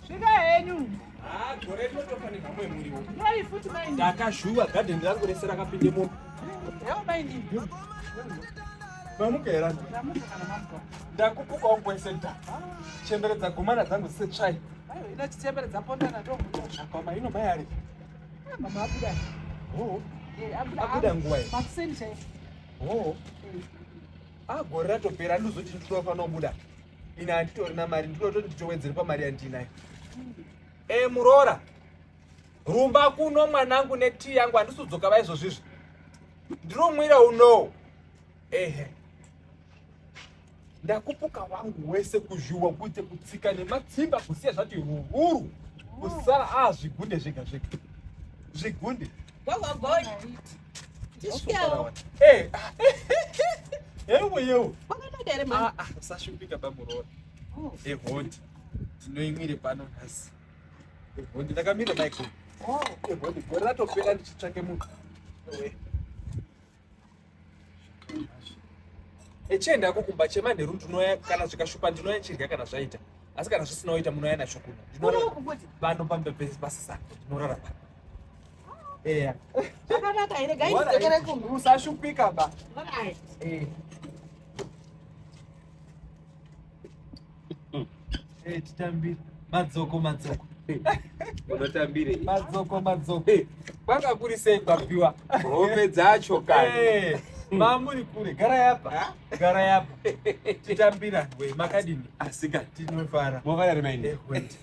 Svika henyu. Ah, gore rinotofanirwa mwe muriwo. Mai futi mai. Ndakazhuwa garden rangu rese rakapinde mombe. Yao mai ndi. Mamuka era. Ndakupuka kwese da. Chembere dzagumana dzangu setsvai. Ayo ina chitsembere dzapondana to muno. Akoma ino mai ari. Ah, mama abuda. Oh. Eh, abuda. Abuda nguwa. Makuseni chai. Oh. Eh. Ah, gore ratopera ndozoti ndinofanira kubuda. Ina anditorina mari ndinototi nditowedzere pamari yandinayo. Hmm. Eh, muroora. Rumba kuno mwanangu netii yangu handisudzoka vaizvozvizvi. Ndinomwira unowo. ehe ndakupuka wangu wese kuzhuwa kuite kutsika nematsimba kusiya zvati hururu kusara a ah, zvigunde zvega zvega zvigunde eh, ah, ewe yewo ah, usashupika bamuroora oh. ehondi eh, tinoimire pano nhasi ehondi eh, ndakamira maiko ehondi oh. gore ratopera ndichitsvake munhu echienda ko kumba chemanheru ndinoya kana zvikashupa ndinoya chirya kana zvaita asi kana zvisina oita munoya nacho kuno ndinoano pambebezi pasisa ndinorara pa eya zvakanaka here gaidzokere kumba usashupika ba Hey, titambire madzoko madzoko unotambirei madzoko madzoko Hey, kwanga kuri sei kwapiwa hope dzacho kani Eh, mamuri kure gara yapa gara yapa titambira we makadini asi kani tinofara mofara rimaini Eh, wait.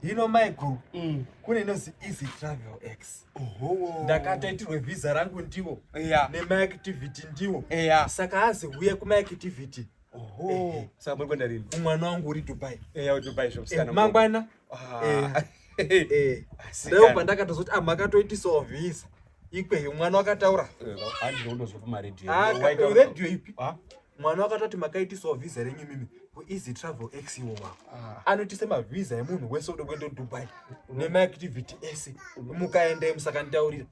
hino maiguru Mm. kune inozi easy travel x Ohowo. ndakataitirwe vhisa rangu ndivo ya nemaactivity ndivo eya saka azi huye kumaactivity Oho. Eh, eh, saka muri kuenda rini? Mwana wangu uri Dubai. Eh, au Dubai zvokusikana. Eh, mangwana. Ah. Eh. Eh. Leo pandakatozoti ah makatoiti sovisa. Ikweyo mwana wakataura. Eh, Handi ndozwa pa radio. Ah, radio ipi? Ah. Mwana wakatoti makaiti sovisa renyu mimi. Ku easy travel ex iwo wako. Ah. anoti semavhiza emunhu wese ude kuenda dubai nemaactivity ese mukaenda musakanditaurira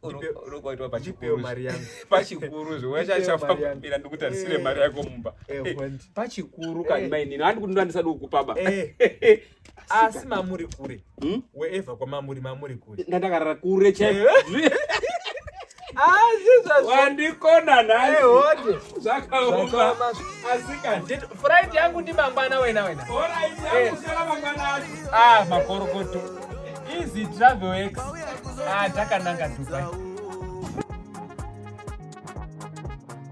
ndipewo mari yangu pachikuru zviwechachafambira ndikutarisire mari eh. yako mumba eh, eh, pachikuru kani mainini andi kuti ndandisadi kukupaba asi mamuri kure Hmm? Wherever kwa mamuri mamuri kule. Ndandakarara kure che. Eh. Ah, Jesus. Wandikona naye. Eh, wote. Zvakaoma. Asika. Friday yangu ndi mangwana wena wena. Ora izi yangu eh. sala mangwana acho. Ah, makorokoto. Easy travel ex. Ah, takananga Dubai.